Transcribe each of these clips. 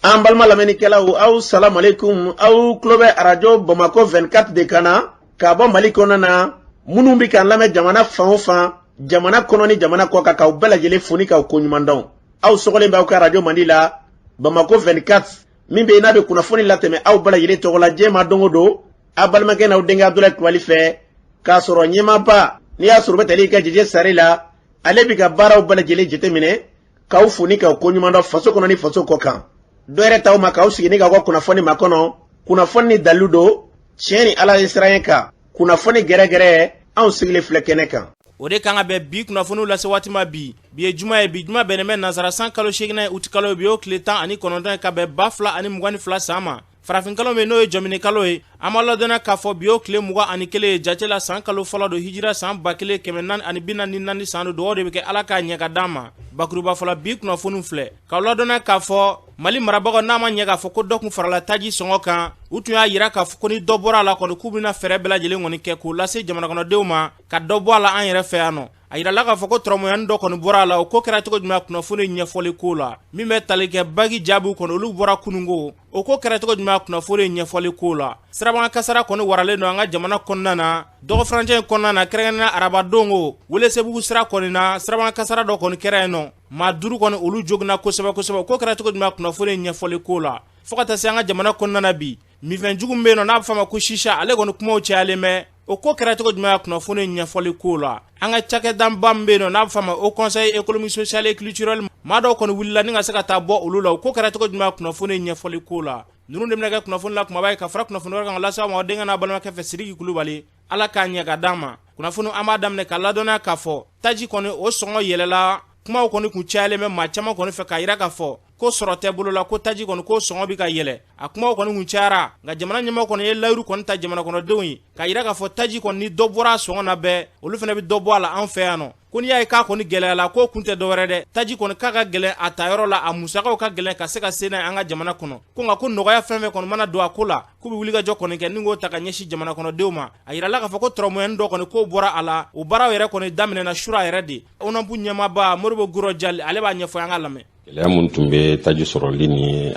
an balima lamɛnnikɛlaw aw salamu aleykum aw tulo bɛ arajo bamakɔ 24 de kan na ka bɔ mali kɔnɔ na minnu bɛ k'an lamɛn jamana fan o fan jamana kɔnɔ ni jamana kɔ kan k'aw bɛɛ lajɛlen fo ni k'aw koɲuman dɔn aw sɔgɔlen b'aw ka arajo mandi la bamakɔ 24 min bɛ yen n'a bɛ kunnafoni latɛmɛ aw bɛɛ lajɛlen tɔgɔ la diɲɛ ma don o don a balimakɛ n'aw denkɛ abudulayi kulubali fɛ k'a sɔrɔ ɲɛmaaba n'i y'a sɔrɔ bɛ tali ka jɛjɛ sari la ale bɛ ka baaraw bɛɛ lajɛlen jateminɛ k'aw fo ni k'aw koɲuman dɔn faso kɔnɔ ni faso kɔ kan dɔ yɛrɛ t'aw ma k'aw sigi ni k'aw ka kunnafoni makɔnɔ kunnafoni ni dalilu don tiɲɛ ni ala ɲɛsiranɲɛ kan kunnafoni gɛrɛgɛrɛ anw sigilen filɛ kɛnɛ kan o de kan ka bɛn bi kunnafoniw lase waati ma bi bi ye juma ye bi juma bɛnnen bɛ nansara san kalo seeginan ye uti kalo bi y'o tile tan ani kɔnɔntɔn ye ka bɛn ba fila ani mugan ni fila san ma Farafinkalo min n'o ye jɔmini kalo ye an b'aw ladɔnniya k'a fɔ bi o tile mugan ani kelen ye jate la san kalo fɔlɔ don hijira san ba kelen kɛmɛ naani ani bi naani ni naani san don dugawu de bɛ kɛ ala k'a ɲɛ ka d'an ma bakurubafɔ la bi kunnafoni filɛ k'aw ladɔnniya k'a fɔ mali marabagaw n'a ma ɲɛ k'a fɔ ko dɔ kun farala taji sɔngɔ kan u tun y'a yira k'a fɔ ko ni dɔ bɔra a la kɔni k'u bɛna fɛɛrɛ bɛɛ lajɛlen kɔni kɛ k'o lase jamanakɔnɔdenw ma ka dɔ bɔ a la an yɛrɛ fɛ yan nɔ a yirala k'a fɔ ko tɔrɔmɔɲani dɔ kɔni bɔra a la o ko kɛra cogo jumɛn kunnafoni ɲɛfɔli ko la min bɛ tali kɛ baki jaabiw kɔni olu bɔra kununko O ko kɛra cogo jumɛn kunnafoni ye ɲɛfɔli ko la sirabakan kasara kɔni waralen don an ka jamana kɔnɔna na dɔgɔfurancɛ kɔnɔna na kɛrɛnkɛrɛnnenya arabadon ko welesebugu sira kɔni na sirabakan kasara dɔ kɔni kɛra yen nɔ maa duuru kɔni olu joginna kosɛbɛ kosɛbɛ o ko kɛra cogo jumɛn kunnafoni ye ɲɛfɔli ko la fo ka taa se an ka jamana kɔnɔna na bi minfɛn jugu min bɛ yen nɔ n'a bɛ fɔ a ma ko shisha ale kɔni kumaw cayalen bɛ o ko kɛra cogo jumɛn a kunnafoni ɲɛfɔli ko la an ka cakɛdanba min bɛ yen nɔ n'a bɛ fɔ a ma o conseil économique social et culturel maa dɔw kɔni wulila ni ka se ka taa bɔ olu la o ko kɛra cogo jumɛn a kunnafoni ɲɛfɔli ko la ninnu de bɛna kɛ kunnafoni la kumaba ye ka fara kunnafoni wɛrɛ kan k'a lase aw ma denkɛ n'a balimakɛ fɛ sidiki kulubali ala k'a ɲɛ ka d'an ma kunnafoni an b'a daminɛ k'aw ladɔnniya k'a fɔ taji kɔni o sɔngɔ yɛlɛla kumaw kɔni kun cayalen bɛ maa caman kɔni fɛ k'a yira k'a fɔ ko sɔrɔ tɛ bolo la ko taji kɔni k'o sɔngɔ bɛ ka yɛlɛ a kumaw kɔni kun cayara nka jamana ɲɛmaa kɔni ye layiru kɔni ta jamanakɔnɔdenw ye k'a yira k'a fɔ taji kɔni ni dɔ bɔra a sɔngɔ na bɛɛ olu fana bɛ dɔ bɔ a la an fɛ yan nɔ ko n'i y'a ye k'a kɔni gɛlɛyala k'o kun tɛ dɔwɛrɛ dɛ taji kɔni k'a ka gɛlɛn a ta yɔrɔ la a musakaw ka gɛlɛn ka se ka se n'a ye an ka jamana kɔnɔ ko nka ko nɔgɔya fɛn fɛn kɔni mana don a ko la k'u bɛ wulikajɔ kɔni kɛ ni k'o ta ka ɲɛsin jamana kɔnɔdenw ma a yirala k'a fɔ ko tɔrɔmɔyɛni dɔ kɔni k'o bɔra a la o baaraw yɛrɛ kɔni daminɛna sura yɛrɛ de onap ɲɛmaaba modibo guro jali ale b'a ɲɛfɔ an k'a lamɛn gɛlɛya min tun bɛ taji sɔrɔli ni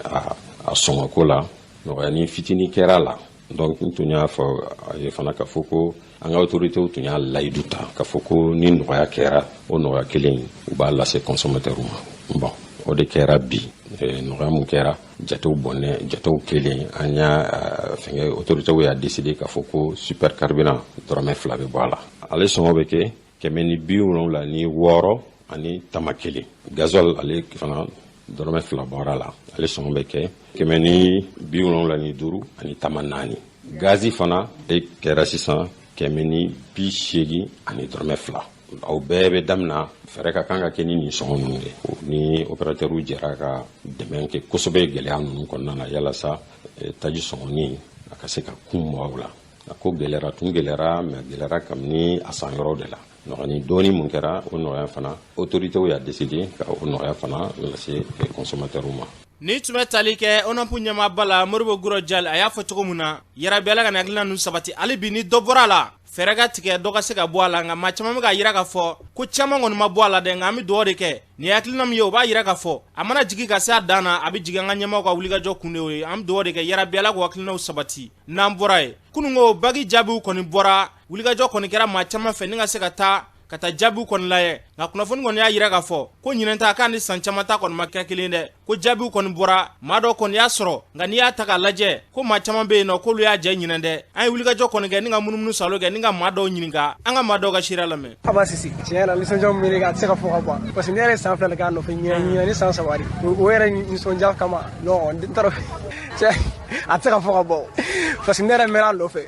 a sɔngɔko la nɔgɔyani fitini kɛra a la donc n tun y'a fɔ aw ye fana k'a fɔ ko an ka autoritéw tun y'a layidu ta k'a fɔ ko ni nɔgɔya kɛra o nɔgɔya kelen u b'a lase consommateurw ma bon o de kɛra bi eh, nɔgɔya min kɛra jatew bɔnɛ jatew kɛlen an y'a euh, fɛngɛ autoritew y'a deside k'a fɔ ko super carburant dɔrɔmɛ fila bɛ bɔ a la ale sɔngɔ bɛ kɛ kɛmɛ ni bi wolonwula ni wɔɔrɔ ani tama kelen gazɔl ale fana dɔrɔmɛ fila bɔra a la ale sɔngɔ bɛ kɛ kɛmɛ ni bi wolonwula ni duuru ani tama naani gazi fana e kɛra sisan kɛmɛ ni bi seegin ani dɔrɔmɛ fila aw bɛɛ bɛ damina feere ka kan ka kɛ ni nin sɔngɔ ninnu de ni operatɛriw jɛra ka dɛmɛ kɛ kosɛbɛ gɛlɛya ninnu kɔnɔna na yalasa eh, taji sɔngɔ nin a ka se ka kun mɔgɔw la a ko gɛlɛyara tun gɛlɛyara mɛ gɛlɛyara kabini a san yɔrɔw de la nɔgɔyani dɔɔni mun kɛra o nɔgɔya fana autorités y'a décidé ka o nɔgɔya fana lase consommateurs ma Nin tun bɛ tali kɛ ONAP ɲɛmaaba la Modibo Guro Jal a y'a fɔ cogo min na yarabi Ala ka nin hakilina ninnu sabati hali bi ni dɔ bɔra a la fɛɛrɛ ka tigɛ dɔ ka se ka bɔ a la nka maa caman bɛ k'a jira k'a fɔ ko caman kɔni ma bɔ a la dɛ nka an bɛ dugawu de kɛ nin ye hakilina min ye o b'a jira k'a fɔ a mana jigin ka se a dan na a bɛ jigin an ka ɲɛmaaw ka wulikajɔ kun de y'o ye an bɛ dugawu de kɛ yarabi Ala k'o hakilinaw sabati n'an bɔra ye kununko baki jaabiw kɔni bɔra wulikajɔ kɔni kɛra maa caman fɛ ni ka se ka taa ka taa jaabiw kɔni layɛ nka kunnafoni kɔni y'a jira k'a fɔ ko ɲinɛn ta k'a ni san caman ta kɔni ma kɛ kelen dɛ ko jaabiw kɔni bɔra maa dɔ kɔni y'a sɔrɔ nka n'i y'a ta k'a lajɛ ko maa caman bɛ yen nɔ k'olu y'a jɛ ɲinɛn dɛ an ye wulikajɔ kɔni kɛ ni ka munumunu salo kɛ ni ka maa dɔw ɲininka an ka maa dɔw ka seereya lamɛn aba sisi tiɲɛ yɛrɛ nisɔndiya min bɛ ne kan a tɛ se ka fɔ ka ban parce que ne yɛrɛ ye san fila de k'a nɔfɛ ɲinɛn ɲinɛn ni san saba de o yɛrɛ nisɔndiya kama non n t'a dɔn a tɛ se ka fɔ ka ban parce que ne yɛrɛ mɛnna a nɔfɛ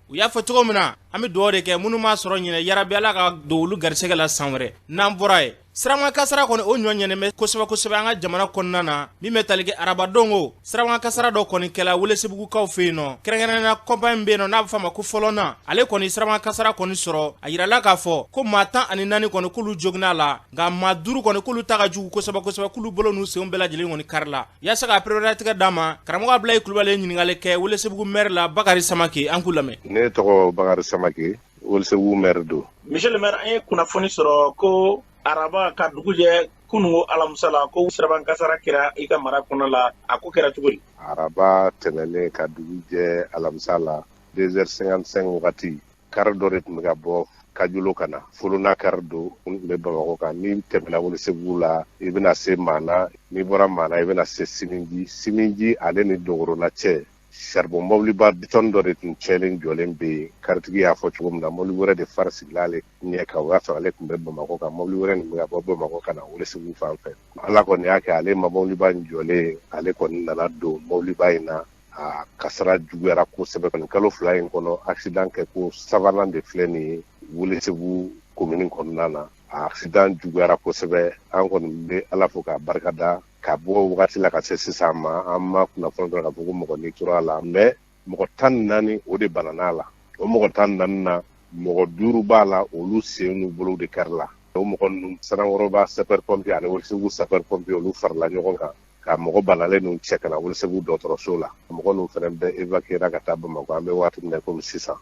u y'a fɔ cogo min na an bɛ dugawu de kɛ minnu m'a sɔrɔ ɲinɛn yarabi ala ka don olu garisɛgɛ la san wɛrɛ n'an bɔra ye siraba kan kasara kɔni o ɲɔ ɲɛnɛmɛ kosɛbɛ kosɛbɛ an ka jamana kɔnɔna na min bɛ tali kɛ arabadon o siraba kan kasara dɔ kɔni kɛla welesebugukaw fɛ yen nɔ kɛrɛnkɛrɛnnenya kɔnpaɲi min bɛ yen nɔ n'a bɛ fɔ a ma ko folona ale kɔni siraba kan kasara kɔni sɔrɔ a jirala k'a fɔ ko maa tan ani naani kɔni k'olu joginna a la nka maa duuru kɔni k'olu ta ka jugu kosɛbɛ kosɛbɛ k'olu bolo n'u senw bɛɛ lajɛlen kɔni karila Yasa ka pereperelatigɛ d'a ma karamɔgɔ abulayi kulubali ye ɲininkali kɛ welesebugu mɛri la bakari samakɛ an k'u lamɛn ne tɔgɔ bakari samakɛ welesebugu mɛri don misiye le mɛri an ye kunnafoni sɔrɔ ko araba ka dugu jɛ kununko alamisa la ko siraba kasara kɛra i ka mara kɔnɔ la a ko kɛra cogo di araba tɛmɛnen ka dugu jɛ alamisa la deux heures cinquante-cinq wagati kari dɔ de tun bɛ ka bɔ kajolo ka na folona kari don n tun bɛ bamakɔ kan n'i tɛmɛna welesebugu la i bɛna se maana n'i bɔra maana i bɛna se siminji siminji ale ni dogorona cɛ saribɔn mɔbiliba bitɔn dɔ de tun cɛlen jɔlen bɛ yen karitigi y'a fɔ cogo min na mɔbili wɛrɛ de fari sigila ale ɲɛ kan o y'a sɔrɔ ale tun bɛ bamakɔ kan mɔbili wɛrɛ nin bɛ ka bɔ bamakɔ ka na welesebugu fan fɛ ala kɔni y'a kɛ ale ma mɔbiliba in jɔlen ale kɔni nana don mɔbiliba in na a kasara juguyara kosɛbɛ nin kalo fila in kɔnɔ accident kɛko sabanan de filɛ nin ye Welesebugu komini kɔnɔna na a accident juguyara kosɛbɛ an kɔni bɛ ala fo k'a barika da ka bɔ wagati la ka se sisan ma an ma kunnafoni sɔrɔ k'a fɔ ko mɔgɔ ni tora a la mais mɔgɔ tan ni naani o de banan'a la o mɔgɔ tan ni naani na mɔgɔ duuru b'a la olu sen n'u bolow de karila o mɔgɔ ninnu sanankɔrɔba sapeur pompier ani welesebugu sapeur pompier olu farala ɲɔgɔn kan ka mɔgɔ banalen ninnu cɛ ka na welesebugu dɔgɔtɔrɔso la mɔgɔ ninnu fana bɛɛ evakuyera ka taa bamakɔ an bɛ waati min na komi sisan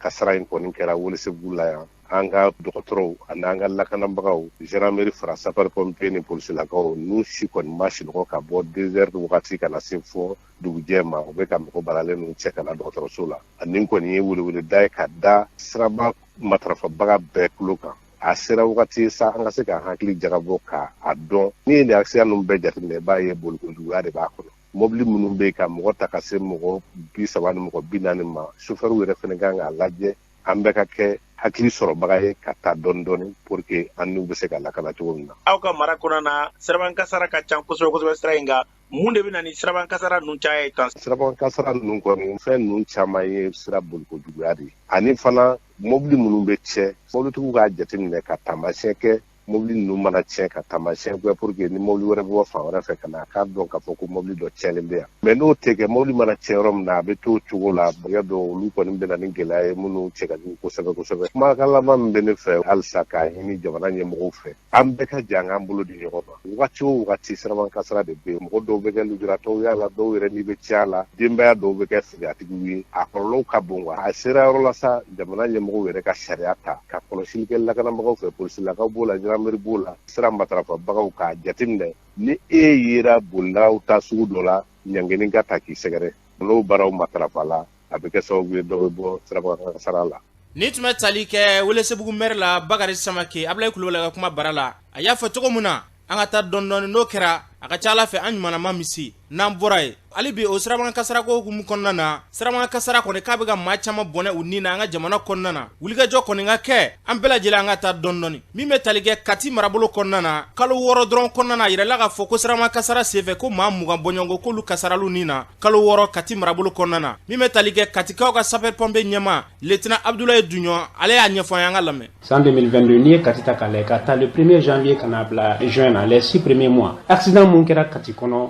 kasara in kɔni kɛra welesebugu la yan an ka dɔgɔtɔrɔw ani an ka lakanabagaw gendarmerie fara sapeur pompier ni polisilakaw ninnu si kɔni ma sinɔgɔ ka bɔ deux heures wagati ka na se fo dugujɛ ma u bɛ ka mɔgɔ banalen ninnu cɛ ka na dɔgɔtɔrɔso la a nin kɔni ye weleweleda ye ka da siraba matarafabaga bɛɛ tulo kan a sera wagati sa an ka se k'an hakili jagabɔ ka a dɔn n'i ye nin accident ninnu bɛɛ jateminɛ i b'a ye bolikojuguya de b'a kɔnɔ mɔbili minnu bɛ yen ka mɔgɔ ta ka se mɔgɔ bi saba ni mɔgɔ bi naani ma sofɛriw yɛrɛ fana kan k'a lajɛ an bɛɛ ka kɛ hakili sɔrɔbaga ye ka taa dɔɔni dɔɔni pour que an niw bɛ se ka lakana cogo min na. aw ka mara kɔnɔna na siraban kasara ka ca kosɛbɛ kosɛbɛ sira in kan mun de bɛ na ni siraban kasara ninnu caya ye tan. siraban kasara ninnu kɔni fɛn ninnu caman ye sira bolikojuguya de ye ani fana mɔbili minnu bɛ tiɲɛ mɔbilitigiw k'a jateminɛ ka taamasiyɛn kɛ mɔbili ninnu mana tiɲɛ ka taamasiyɛn kɛ pour que ni mɔbili wɛrɛ bɛ bɔ fan wɛrɛ fɛ ka na a k'a dɔn k'a fɔ ko mɔbili dɔ tiɲɛlen bɛ yan mais n'o tɛ kɛ mɔbili mana tiɲɛ yɔrɔ min na a bɛ t'o cogo la bɛɛ y'a dɔn olu kɔni bɛ na ni gɛlɛya ye minnu cɛ ka jugu kosɛbɛ kosɛbɛ kumakan laban min bɛ ne fɛ halisa k'a ɲini jamana ɲɛmɔgɔw fɛ an bɛɛ ka jɛn k'an bolo di ɲɔgɔn ma wagati o wagati siraban kasara de bɛ yen mɔgɔ dɔw bɛ kɛ lujuratɔw y'a la dɔw yɛrɛ ni bɛ tiɲɛ a la denbaya dɔw bɛ kɛ firiyatigiw ye a kɔlɔlɔw ka bon wa a sera yɔrɔ la sa jamana ɲɛmɔgɔw yɛrɛ ka sariya ta ka kɔlɔsili kɛ lakanabagaw fɛ polisilakaw b'o la gendarmerie b'o la sira matarafabagaw k'a jateminɛ ni e yera bolilaw ta sugu dɔ la ɲangeni ka ta k'i sɛgɛrɛ n'o baaraw matarafala a bɛ kɛ sababu ye dɔ bɛ bɔ sirabakan kasara la nin tun bɛ tali kɛ welesebugu maire la bakari samake abudulayi kulubali ka kuma bara la a y'a fɔ cogo min na an ka taa dɔɔni dɔɔni n'o kɛra a ka ca ala fɛ an ɲumanma bɛ se n'an bɔra yen hali bi o sirabakan kasarako hukumu kɔnɔna na sirabakan kasara kɔni k'a bɛ ka maa caman bɔnɛ u ni na an ka jamana kɔnɔna na wulikajɔ kɔni ka kɛ an bɛɛ lajɛlen an ka taa dɔɔni dɔɔni min bɛ tali kɛ kati marabolo kɔnɔna na kalo wɔɔrɔ dɔrɔn kɔnɔna na a yirala k'a fɔ ko sirabakan kasara senfɛ ko maa mugan bɔɲɔgɔnko k'olu kasarala u ni na kalo wɔɔrɔ kati marabolo kɔnɔna na min bɛ tali kɛ katikaw ka sapeur pompier ɲɛma lieutenant abudulayi duɲɔn ale y'a ɲɛfɔ an ye an k'a lamɛn san 2022 n'i ye kati ta k'a lajɛ ka ta le premier janvier ka n'a bila juin na les six premiers mois accident mun kɛra kati kɔnɔ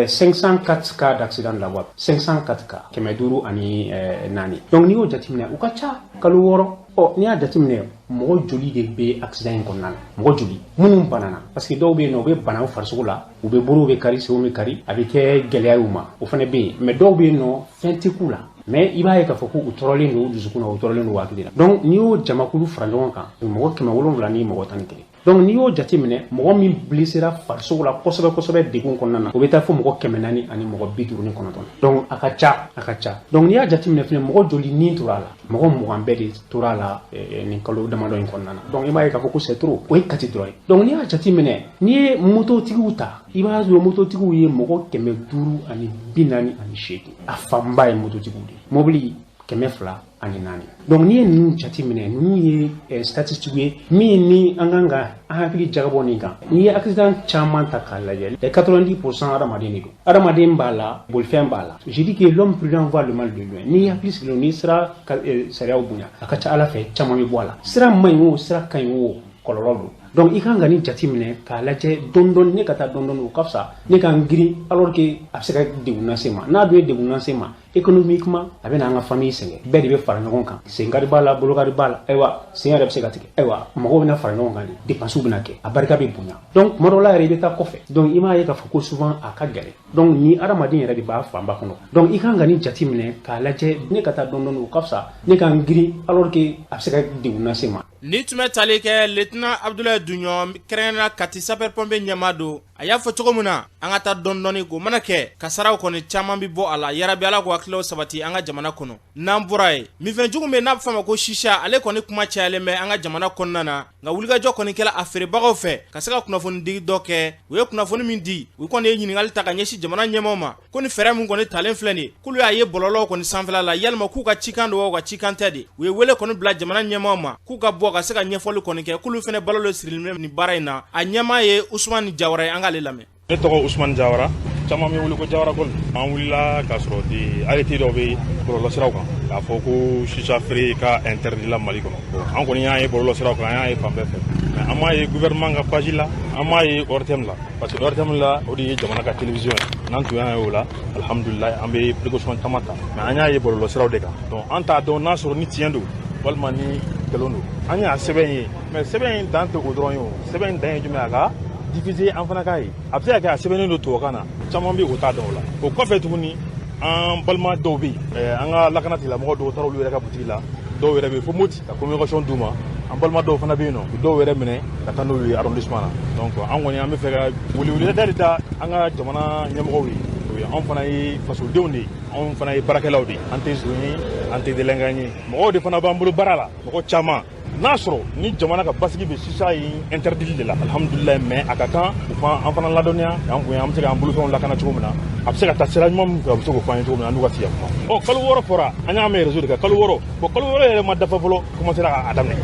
504 cas d'accident de la voie 504 cas kɛmɛ duuru ani eh, naani donc n'i y'o jateminɛ u ka ca kalo wɔɔrɔ ɔ n'i y'a jateminɛ mɔgɔ joli de bɛ accident in kɔnɔna na mɔgɔ joli minnu banana parce que dɔw bɛ yen nɔ u bɛ bana u farisogo la u bɛ bolow bɛ kari senw bɛ kari a bɛ kɛ gɛlɛya y'u ma o fana bɛ yen mais dɔw bɛ yen nɔ fɛn tɛ k'u la mais i b'a ye k'a fɔ k'u tɔɔrɔlen don u dusukun na u tɔɔrɔlen don u hakili la donc n'i y'o jamakulu fara ɲɔgɔn kan mɔgɔ kɛmɛ wolonwula ni mɔgɔ tan ni kelen donc n'i y'o jateminɛ mɔgɔ min blessera farisogo la kosɛbɛ kosɛbɛ degun kɔnɔna na o bɛ taa fo mɔgɔ kɛmɛ naani ani mɔgɔ bi duuru ni kɔnɔntɔn donc a ka ca a ka ca donc n'i y'a jateminɛ fɛnɛ mɔgɔ joli ni tora a la mɔgɔ mugan bɛɛ de tora a la eh, eh, nin kalo damadɔ in kɔnɔna na donc i b'a ye k'a fɔ ko c'est trop o ye kati dɔrɔn ye donc n'i y'a jateminɛ n'i ye mototigiw ta i b'a sɔrɔ mototigiw ye mɔgɔ kɛmɛ duuru ani bi naani ani seegin a fanba ye mototigiw de ye mobili kɛmɛ fila ani naani donc n'i ye ninnu jateminɛ ninnu ye eh, statistique ye min ni an kan ka an hakili jagabɔ nin kan n'i ye accident caman ta k'a lajɛ 90 pourcent hadamaden de don hadamaden b'a la bolifɛn b'a la je dis que l'homme prudent voit le mal de loin n'i hakili sigilen n'i sera eh, sariyaw bonya a ka ca ala fɛ caman bɛ bɔ a la sira man ɲi o sira ka ɲi o kɔlɔlɔ don donc i kan ka nin jate minɛ k'a lajɛ dɔndɔni ne ka taa dɔndɔni o ka fisa ne ka n girin alors que a bɛ se ka degun lase ma n'a dun ye degun lase ma économiquement a bɛ na an ka famille sɛgɛn bɛɛ de bɛ fara ɲɔgɔn kan senkari b'a la bolokari b'a la ayiwa sen yɛrɛ bɛ se ka tigɛ ayiwa mɔgɔw bɛna fara ɲɔgɔn kan de dépenses bɛna kɛ a barika bɛ bonya donc tuma dɔw la yɛrɛ i bɛ taa kɔfɛ donc i m'a ye k'a fɔ ko souvent a ka gɛlɛn donc ni adamaden yɛrɛ de b'a fanba kɔnɔ donc i kan ka nin jate minɛ k'a lajɛ ne ka taa dɔndɔni o ka fisa ne ka n girin alors que a bɛ se ka degun lase ma nin tun bɛ tali kɛ lieutenant abudulayi duɲɔn kɛrɛnkɛrɛnnenya la kati sapeur-pompier ɲɛmaa don a y'a fɔ cogo min na an ka taa dɔndɔni k'o mana kɛ kasaraw kɔni caaman be bɔ a la yarabi ala ko hakililaw sabati an ka jamana kɔnɔ n'an bɔra yen minfɛn jugu min n'a be f'a ma ko sisa ale kɔni kuma cayalen bɛ an ka jamana kɔnɔna na nka wulikajɔ kɔni kɛla a feerebagaw fɛ ka se ka kunnafonidigi dɔ kɛ u ye kunnafoni min di u kɔni ye ɲininkali ta ka ɲɛsin jamana ɲɛmaaw ma ko ni fɛɛrɛ min kɔni talen filɛ nin k'olu y'a ye bɔlɔlɔw kɔni sanfɛla la yalima k'u ka cikan don wa u ka cikan tɛ de u ye wele kɔni bila jamana ɲɛmaaw ma k'u ka bɔ ka se ka ɲɛfɔli kɔni kɛ k'olu fɛnɛ balo le sirilen nin baara in na a ɲɛmaa ye usumani jawara ye an k'ale lamɛn ne tɔgɔ usumani jawara caman bɛ n wele ko jawara kɔni an wulila k'a sɔrɔ de arrêté dɔ bɛ bɔlɔlɔsiraw kan k'a fɔ ko sisa feere ka interdit la mali kɔnɔ an kɔni y'a ye bɔlɔlɔsiraw kan an y'a ye fan bɛɛ fɛ mais an m'a ye gouvernement ka page la an m'a ye ortm la parce que ortm la o de ye jamana ka télévision ye n'an tun y'a ye o la alhamdulilayi an bɛ précaution caman ta mais an y'a ye bɔlɔlɔsiraw de kan donc an t'a dɔn n'a sɔrɔ ni tiɲɛ don walima ni nkalon don an y'a sɛbɛn ye mais sɛbɛn in dan tɛ o dɔrɔn ye o sɛbɛn in dan ye jumɛn a ka diffuser an fana k'a ye a bɛ se ka kɛ a sɛbɛnnen don tubabukan na caman bɛ o t'a dɔn o la o kɔfɛ tuguni an balima dɔw bɛ yen an ka lakanatigilamɔgɔ dɔw taara olu yɛrɛ ka butigi la dɔw yɛrɛ bɛ yen fo moti ka communication d'u ma an balima dɔw fana bɛ yen nɔ u dɔw yɛrɛ minɛ ka taa n'olu ye arrondissement na donc an kɔni an b'a fɛ ka weleweleda de ta an ka jamana ɲɛmɔgɔw ye anw fana ye fasodenw de ye anw fana ye baarakɛlaw de ye an tɛ zon ye an tɛ délinquant ye mɔgɔw de fana b'an bolo baara la mɔgɔ caman n'a sɔrɔ ni jamana ka basigi bɛ sisa in interdili de la alhamdulilayi mais a ka kan u ka an fana ladɔnniya k'an kun an bɛ se k'an bolofɛnw lakana cogo min na a bɛ se ka taa sira ɲuman min fɛ a bɛ se k'o fɔ an ye cogo min na an n'u ka sigi ka kuma ɔ kalo wɔɔrɔ fɔra an y'a mɛn réseau de kan kalo wɔɔrɔ bon kalo wɔɔrɔ yɛrɛ ma dafa fɔlɔ commencera k'a daminɛ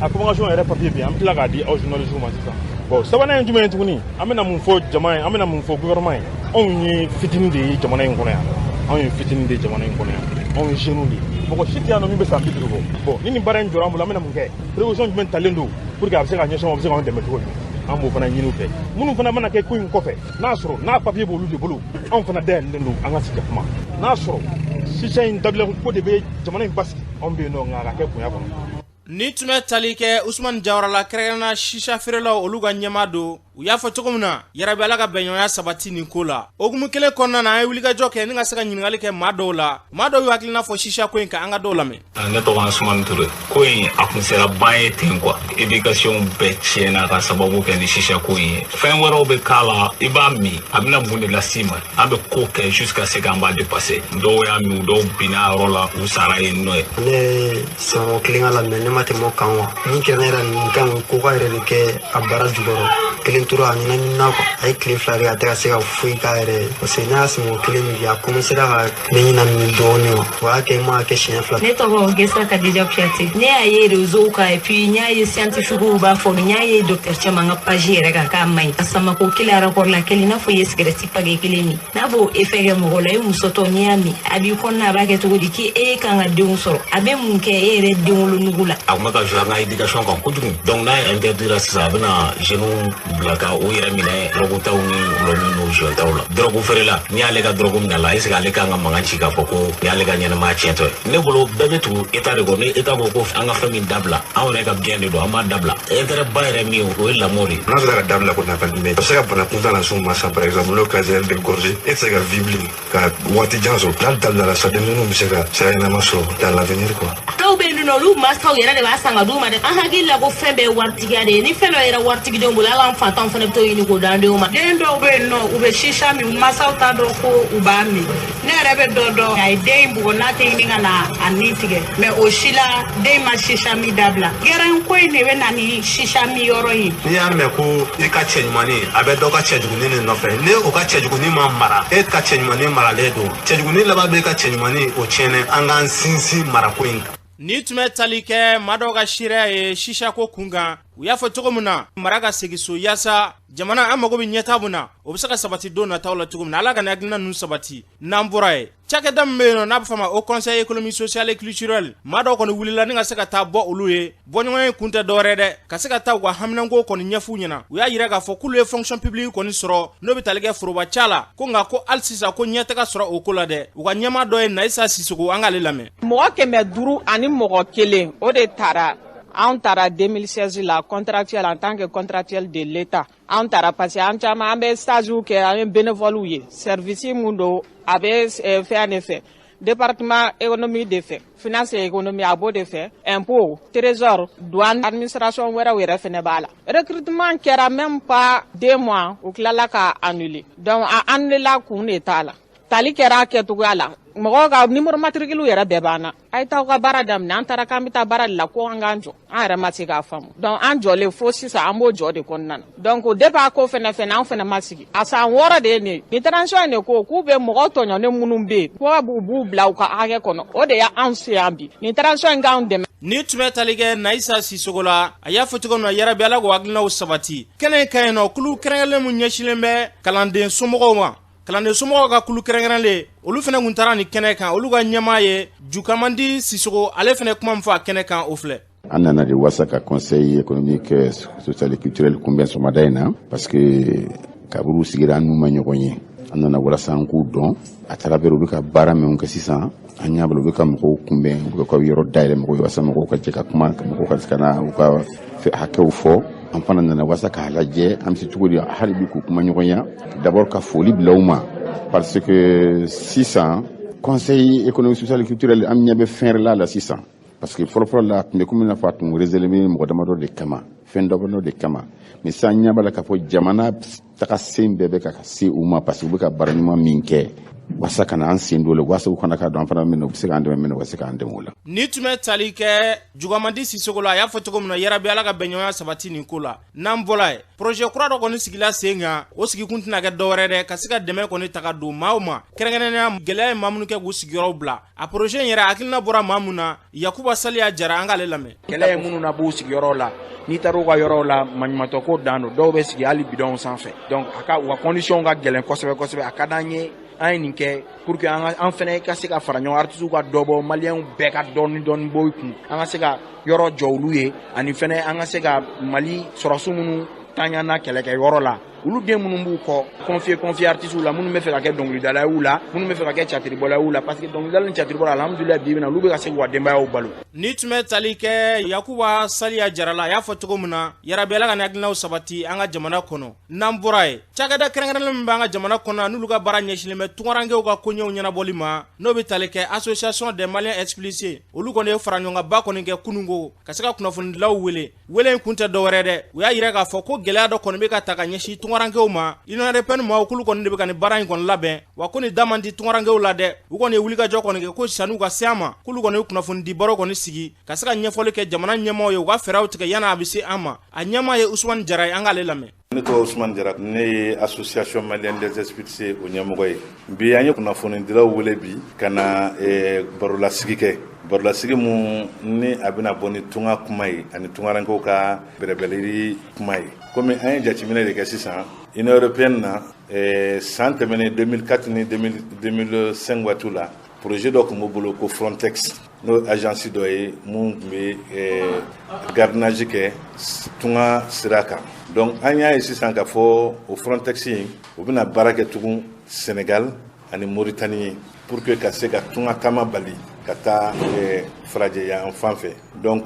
a convocation yɛrɛ papier bɛ yen an bɛ tila k'a di aw journalistes ma sisan bon sabanan ye jumɛn ye tuguni an bɛna mun fɔ jama ye an bɛna mun fɔ gouvernement ye anw ye fitini de ye jamana in kɔnɔ yan anw ye fitini de ye jamana in kɔnɔ yan anw ye jeunes de ye mɔgɔ si tɛ yan nɔ min bɛ san bi duuru bɔ bon ni nin baara in jɔra an bolo an bɛna mun kɛ prévision jumɛn talen don pour que a bɛ se ka ɲɛsin a bɛ se k'an dɛmɛ cogo di an b'o fana ɲini u fɛ minnu fana mana kɛ ko in kɔfɛ n'a sɔrɔ n'a papier b'olu de bolo anw fana dayɛlɛlen don an ka sigi ka kuma n'a sɔrɔ sisa in dabilako de bɛ jamana in basigi anw bɛ yen nɔ nka a ka kɛ bonya kɔnɔ nin tun bɛ tali kɛ usumani jawara la kɛrɛnkɛrɛnna sisa feerelaw olu ka ɲɛmaa don u y'a fɔ cogo min na yarabi ala ka bɛnɲɔgɔnya sabati nin ko la o hukumu kelen kɔnɔna na an ye wulikajɔ kɛ ni ka se ka ɲininkali kɛ maa dɔw la maa dɔw y'u hakilina fɔ sisako in kan an ka dɔw lamɛn ne tɔgɔ ye sumani ture ko in a kun sera ban ye ten quoi éducation bɛɛ tiɲɛna ka sababu kɛ ni sisha ko in ye fɛn wɛrɛw bɛ k'a la i b'a min a bɛna mun de las'i ma an bɛ ko kɛ jusqu'à ce qu'an b'a dépasser dɔw y'a min dɔw binna a yɔrɔ la u sara yen nɔ ye ne sɔngɔ kelen k'a la mais ne ma tɛmɛ o kan wa min kɛra ne yɛrɛ nin kan coca yɛrɛ de kɛ a bara jukɔrɔ kelen tora a ɲɛnaminina quoi a ye tile fila kɛ a tɛ ka se ka foyi k'a yɛrɛ ye parce que ne y'a sɔngɔ kelen min kɛ a commencera ka Ne ɲɛnamini dɔɔnin wa o y'a kɛ n m'a kɛ siɲɛ fila ne tɔgɔ gesa kadija kuyate ne y'a ye réseaux kan et puis n y'a ye scientifiques b'a fɔ n y'a ye docteur caman ka page yɛrɛ kan k'a man ɲi a samako kelen arakɔri la kelen i n'a fɔ i ye cigarette paquet kelen min n'a b'o effet kɛ mɔgɔ la i musotɔ n'i y'a min a b'i kɔnɔna a b'a kɛ cogo di k'i e kan ka denw sɔrɔ a bɛ mun kɛ e yɛrɛ denwolonugu la a tun bɛ ka jouer an ka éducation kan kojugu donc n'a ye interdira sisan a bɛna jeunes bila ka u yɛrɛ minɛ dɔrɔgutaw ni dɔlɔmin ni joint taw la dɔrɔgu feerela n'i y'ale ka dɔrɔgu minɛ a la est-ce que ale kan ka mankan ci k'a fɔ ko nin y'ale ka ɲɛnamaya tiɲɛtɔ ye ne bolo bɛɛ bɛ tugu état de kɔ ni état ko ko an ka fɛn min dabila anw yɛrɛ ka bien de don an b'a dabila intérêt ba yɛrɛ min o ye lamɔ de n'a sera ka dabila ko nafa jumɛn a bɛ se ka bana kuntan lase u ma sa par exemple n'o cancer de gorge e tɛ se ka vivre ka waati jan sɔrɔ n'a dabilala sa denmisɛnninw bɛ se ka sira ɲɛnama sɔrɔ dans l'avenir quoi dɔw bɛ yen nɔ olu mansaw yɛrɛ de b'a san ka d'u ma dɛ an hakili la ko fɛn bɛɛ ye waritigiya de ye ni fɛn dɔ yera waritigidenw bolo hali an faantanw fana bɛ t'o ɲini k'o d'an denw ma den dɔw bɛ yen nɔ u bɛ sisa min u mansaw t'a dɔn ko u b'a min ne yɛrɛ bɛ dɔ dɔn a ye den in bugɔ n'a tɛ ɲini ka na a ni tigɛ mais o si la den ma sisa min dabila gɛrɛn ko in de bɛ na ni sisa min yɔrɔ ye n'i y'a mɛn ko i ka cɛ ɲumanni a bɛ dɔ ka cɛ jugu nin de nɔfɛ ni o ka cɛjuguni ma mara e ka cɛɲumanin maralen don cɛjuguni laban bɛ e ka cɛɲumanin o tiɲɛnɛ an k'an sinsin marako in kan ni tun bɛ tali kɛ maa dɔw ka seereya ye shisha ko kun kan u y'a fɔ cogo min na mara ka segin so yaasa jamana an mago bɛ ɲɛtaa min na o bɛ se ka sabati don nataw la cogo min na ala ka nin hakilina ninnu sabati n'an bɔra ye cakɛda min bɛ yen nɔ n'a bɛ fɔ ma o conseil économique social et culturel maa dɔw kɔni wulila ni ka se ka taa bɔ olu ye bɔɲɔgɔnya in kun tɛ dɔwɛrɛ dɛ ka se ka taa u ka haminanko kɔni ɲɛf'u ɲɛna u y'a yira k'a fɔ k'olu ye fonction publique kɔni sɔrɔ n'o bɛ tali kɛ foroba ca la ko nka ko hali sisan ko ɲɛ tɛ ka sɔrɔ o ko la dɛ u ka ɲɛmaa dɔ ye nayisa sisoko an k'ale lamɛn mɔgɔ kɛmɛ duuru ani mɔgɔ kelen o de tara anw tara 2016 la contractuel en tant que contractuel de l'Etat an tara parce que an caman an bɛ stage kɛ an ye bénévole ye service mun don a bɛ eh, fɛn de fɛ département économie de fɛ finance et économie a b'o de fɛ impôt trésor douane administration wɛrɛw yɛrɛ fɛnɛ b'a la recrutement kɛra même pas deux mois u tilala k'a annuler donc a annulela kun de t'a la tali kɛra a kɛcogoya la mɔgɔw ka numéro matricule yɛrɛ bɛɛ b'an na a ye taa ka baara daminɛ an taara k'an bɛ taa baara de la ko an k'an jɔ an yɛrɛ ma se k'a faamu donc an jɔlen fo sisan an b'o jɔ de kɔnɔna na donc depuis a ko fɛnɛ fɛnɛ an fɛnɛ ma sigi a san wɔɔrɔ de ye nin ye transition in de ko k'u bɛ mɔgɔ tɔɲɔnen minnu bɛ yen ko b'u b'u bila u ka hakɛ kɔnɔ o de y'an se yan bi nin transition in k'anw dɛmɛ ni tun bɛ tali kɛ nayisa sisoko la a y'a fɔ cogo min na yarabi ala k'o hakilinaw sabati kɛnɛ in kan yan nɔ kulu kɛrɛnkɛrɛnlen min ɲɛsinnen bɛ kalanden somɔgɔw ma kalanden somɔgɔw ka kulu kɛrɛnkɛrɛnlen olu fɛnɛ kun taara nin kɛnɛ kan olu ka ɲɛmaa ye jukamadi sisoko ale fɛnɛ kuma min fɔ a kɛnɛ kan o filɛ an nana de wasa ka conseil économique euh, social et culturel kunbɛn sɔgɔmada in na parce que kabiri u sigira an n'u ma ɲɔgɔn ye an nana walasa an k'u dɔn à travers u bɛ ka baara minw kɛ sisan an ɲɛ b'a la u bɛ ka mɔgɔw kunbɛn u bɛ ka yɔrɔ dayɛlɛ mɔgɔw ye walasa mɔgɔw ka jɛ ka kuma ka mɔgɔw ka se ka na u ka hakɛw fɔ an fana nana walasa k'a lajɛ an bɛ se cogo di hali bi k'u kumaɲɔgɔnya d'abord ka foli bila u ma parce que sisan conseil économique social et culturel an ɲɛ bɛ fɛn wɛrɛ la la sisan parce que fɔlɔfɔlɔ la a tun bɛ komi i n'a fɔ a tun réservé mɔgɔ damadɔ de kama fɛn damadɔ de kama mais sisan an ɲɛ b'a la k'a fɔ jamana taga sen bɛɛ bɛ ka se u ma parce que u bɛ ka baara ɲuman min kɛ walasa ka na an sen don o la walasa u ka na k'a dɔn an fana min na u bɛ se k'an dɛmɛ min na u ka se k'an dɛmɛ o la. ni tun bɛ tali kɛ jukamadi sisoko la a y'a fɔ cogo min na yarabi ala ka bɛnɲɔgɔnya sabati nin ko la n'an bɔra ye projet kura dɔ kɔni sigila sen kan o sigikun tɛna kɛ dɔwɛrɛ dɛ ka se ka dɛmɛ kɔni ta ka don maaw ma kɛrɛnkɛrɛnnenya gɛlɛya ye maa minnu kɛ k'u sigiyɔrɔw bila a projet in yɛrɛ hakilina bɔra maa min na yakuba saliya jara an k'ale lamɛn kɛlɛ ye minnu labɔ u sigiyɔrɔw la n'i taara u ka yɔrɔw la maɲumatɔko dan don dɔw bɛ sigi hali bidɔnw sanfɛ donc a ka u ka condition ka gɛlɛn kosɛbɛ kosɛbɛ a ka d'an ye an ye nin kɛ pour que an fɛnɛ ka se ka fara ɲɔgɔn artisiw ka dɔ bɔ maliyɛnw bɛɛ ka dɔɔni dɔɔni bɔ u kun an ka se ka yɔrɔ jɔ olu ye ani fɛnɛ an ka se ka mali sɔrɔsiw minnu ta ɲana kɛlɛkɛ yɔrɔ la olu den minnu b'u kɔ confier confier artistes la minnu bɛ fɛ ka kɛ dɔnkilidala y'u la minnu bɛ fɛ ka kɛ catiribɔla y'u la parce que dɔnkilidala ni catiribɔla alhamdulila bi bi in na olu bɛ ka se k'u ka denbayaw balo ni tun bɛ tali kɛ yakuba saliya jara la a y'a fɔ cogo min na yarabi ala ka nin hakilinaw sabati an ka jamana kɔnɔ n'an bɔra yen cakɛda kɛrɛnkɛrɛnlen min b'an ka jamana kɔnɔ n'olu ka baara ɲɛsinlen bɛ tungarankew ka koɲɛw ɲɛnabɔli ma n'o bɛ tali kɛ association des maliens expulsés olu kɔni ye faraɲɔgɔnkanba kɔni kɛ kununko ka se ka kunnafonidilaw wele Wele in kun tɛ dɔwɛrɛ dɛ u y'a yira k'a fɔ ko gɛlɛya dɔ kɔni bɛ ka ta ka ɲɛsin tungarankew ma union européenne maaw k'olu kɔni de bɛ ka nin baara in kɔni labɛn wa ko nin da man di tungarankew la dɛ u kɔni ye wulikajɔ kɔni kɛ ko sani u ka se an ma k'olu kɔni ye kunnafonidi baro kɔni sigi ka se ka ɲɛfɔli kɛ jamana ɲɛmaaw ye u ka fɛɛrɛw tigɛ yanni a bɛ se an ma a ɲɛmaa ye Usumani Jara ye an k'ale lamɛn ne tɔgɔ usumani jara ne ye association malienne des expulsés o ɲɛmɔgɔ ye bi an ye kunnafonidilaw wele bi ka na eh, barolasigi kɛ barolasigi mun ni a bɛna bɔ ni tunga kuma ye ani tungarankew ka bɛrɛbɛrɛli kuma ye komi an ye jateminɛ de kɛ sisan union européenne na eh, san tɛmɛnen 2004 ni 2005 waatiw la projet dɔ tun b'u bolo ko frontex n'o agence dɔ ye mun tun bɛ eh, gardiennage kɛ tunga sira kan donc an y'a ye sisan k'a fɔ o frontex in u bɛna baara kɛ tugun senegal ani moritani ye pour que ka se ka tunga taama bali ka taa eh, farajɛ yanfan fɛ donc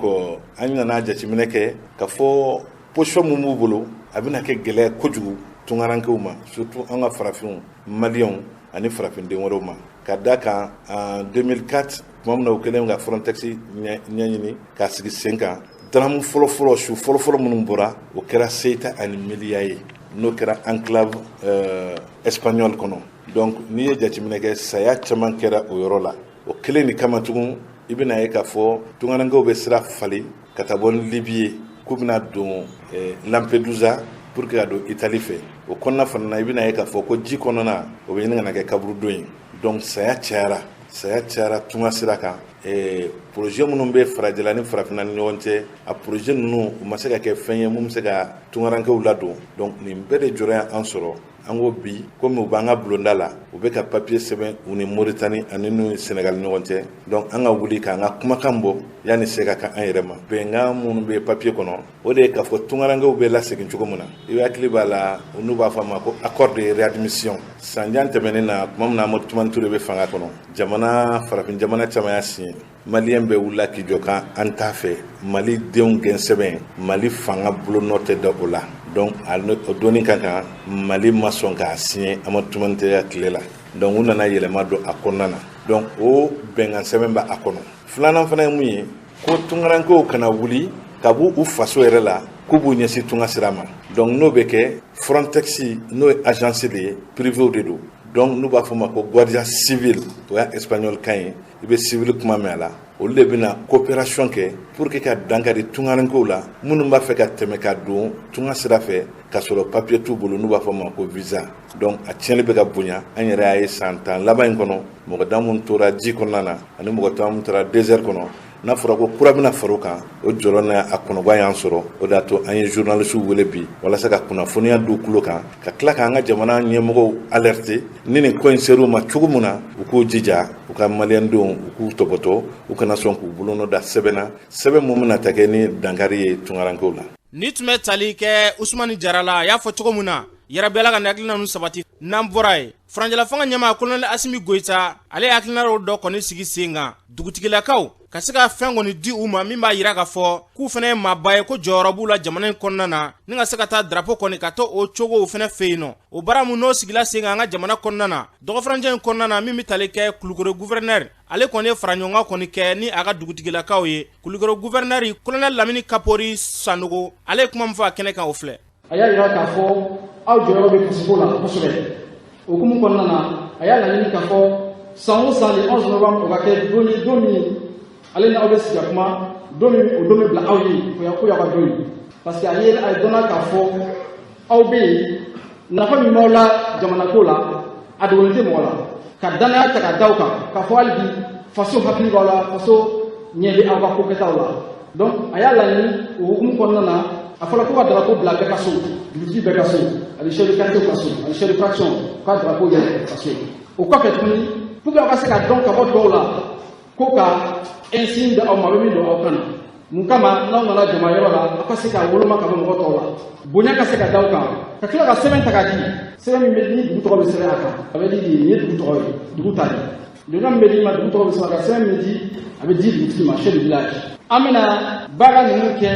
an nana jateminɛ kɛ k'a fɔ position mun b'u bolo a bɛna kɛ gɛlɛya kojugu tungarankew ma surtout an ka farafinw maliyɛnw ani farafinden wɛrɛw ma ka da kan en 2004 tuma min na u kɛlen ka frontex ɲɛɲini k'a sigi sen kan drame fɔlɔfɔlɔ su fɔlɔfɔlɔ minnu bɔra o kɛra ceuta ani melilla ye n'o kɛra enclave euh, espagnol kɔnɔ donc n'i ye jateminɛ kɛ saya caman kɛra o yɔrɔ la o kelen in kama tugun i bɛna ye k'a fɔ tungarankew bɛ sira falen ka taa bɔ ni libi ye k'u bɛna don eh, lampedusa pour que ka don itali fɛ o kɔnɔna fana na i bɛna ye k'a fɔ ko ji kɔnɔna o bɛ ɲini ka na kɛ kaburudon ye donc saya cayara saya cayara tunga sira kan eh, projet minnu bɛ farajɛla ni farafinna ni ɲɔgɔn cɛ a projet ninnu u ma se ka kɛ fɛn ye mun bɛ se ka tungarankew ladon donc nin bɛɛ de jɔrɔ y'an sɔrɔ an ko bi komi u b'an ka bulonda la u bɛ ka papiye sɛbɛn u ni moritani ani n'u sɛnɛgali ɲɔgɔn cɛ donc an ka wuli k'an ka kumakan bɔ yanni se ka kɛ an yɛrɛ ma bɛnkan minnu bɛ papiye kɔnɔ o de ye k'a fɔ tungarankew bɛ lasegin cogo min na i bɛɛ hakili b'a la n'u b'a fɔ a ma ko accord de réadmission san jan tɛmɛnen na tuma min na amadu tumani ture bɛ fanga kɔnɔ jamana farafin jamana caman y'a siɲɛ maliyɛn bɛɛ wulila k'i jɔ k'an an t'a fɛ mali denw gɛn sɛbɛn mali fanga bolo nɔ tɛ da o la donc o donni ka kan mali ma sɔn k'a siɲɛ amadu tumani ture tile la donc u nana yɛlɛma don a kɔnɔna na donc o bɛnkan sɛbɛn bɛ a kɔnɔ filanan fana ye mun ye ko tunkarankew kana wuli ka b'u u faso yɛrɛ la k'u b'u ɲɛsin tunga sira ma donc n'o bɛ kɛ frontex n'o ye agence de ye privéw de don donc n'u b'a fɔ ma ko guardia civil o y'a espagnol kan ye i bɛ civil kuma mɛn a la olu de bɛna coopération kɛ pour que ka dankari tungarankew la minnu b'a fɛ ka tɛmɛ ka don tunga sira fɛ ka sɔrɔ papier t'u bolo n'u b'a fɔ ma ko visa donc a tiɲɛli bɛ ka bonya an yɛrɛ y'a ye san tan laban in kɔnɔ mɔgɔ da min tora ji kɔnɔna na ani mɔgɔ da min tora désert kɔnɔ n'a fɔra ko kura bɛna far'o kan o jɔrɔ n'a kɔnɔgan y'an sɔrɔ o de y'a to an ye journalisiw wele bi walasa ka kunnafoniya d'u tulo kan ka tila k'an ka jamana ɲɛmɔgɔw alerter ni nin ko in ser'u ma cogo min na u k'u jija u ka maliyɛndenw u k'u tɔbɔtɔ u kana sɔn k'u bolonɔ da sɛbɛn na sɛbɛn mun bɛna ta kɛ ni dankari ye tunkarankew la nin tun bɛ tali kɛ usumani jara la a y'a fɔ cogo min na yarabi ala ka nin hakilina ninnu sabati n'an bɔra yen farancɛlafanga ɲɛmaa kolonɛli asimi goyita ale ye hakilina dɔ kɔni sigi sen kan dugutigilakaw ka se ka fɛn kɔni di u ma min b'a jira ka fɔ k'u fana ye maaba ye ko jɔyɔrɔ b'u la jamana in kɔnɔna na ni ka se ka taa drapo kɔni ka to o cogow fana fɛ yen nɔ o baara min n'o sigila sen kan an ka jamana kɔnɔna na dɔgɔfarancɛ in kɔnɔna na min bɛ tali kɛ kulukoro guvɛrɛnɛri ale kɔni ye faraɲɔgɔnkan kɔni kɛ ni a ka dugutigilakaw ye kulukoro guvɛrɛnɛri kolonɛli lamini kapori sanogo ale ye kuma min fɔ a kɛnɛ kan o filɛ a y'a jira k'a fɔ aw jɔyɔrɔ bɛ kasiko la kosɛbɛ o hukumu kɔnɔna na a y'a laɲini k'a fɔ san o san le 11 novembre o ka kɛ don ye don min ale ni aw bɛ sigi ka kuma don min o don bɛ bila aw ye k'o y'a k'o y'aw ka don ye parce que a ye a dɔnna k'a fɔ aw bɛ yen nafa min b'aw la jamanako la a dogolen tɛ mɔgɔ la ka danaya ta ka da aw kan k'a fɔ hali bi faso hakili b'aw la faso ɲɛ bɛ aw ka ko kɛtaw la donc a y'a laɲini o hukumu kɔnɔna na a fɔra ko ka drapo bila bɛɛ ka so dugutigi bɛɛ ka so ani chef de quartier ka so ani chef de fraction ka drapo yɛlɛ ka so o kɔfɛ tuguni pour que aw ka se ka dɔn ka bɔ dɔw la ko ka insigne di aw ma aw bɛ min don aw kan na mun kama n'aw nana jama yɔrɔ la aw ka se ka woloma ka bɔ mɔgɔ tɔw la bonya ka se ka da aw kan ka tila ka sɛbɛn ta ka di sɛbɛn min bɛ ni dugu tɔgɔ bɛ sɛbɛn a kan a bɛ di nin ye dugu tɔgɔ ye dugu ta ye Le nom min bɛ d'i ma dugu tɔgɔ bɛ sɛbɛn a kan sɛbɛn min bɛ di a bɛ di dugutigi ma chef du village an bɛna baara ninnu kɛ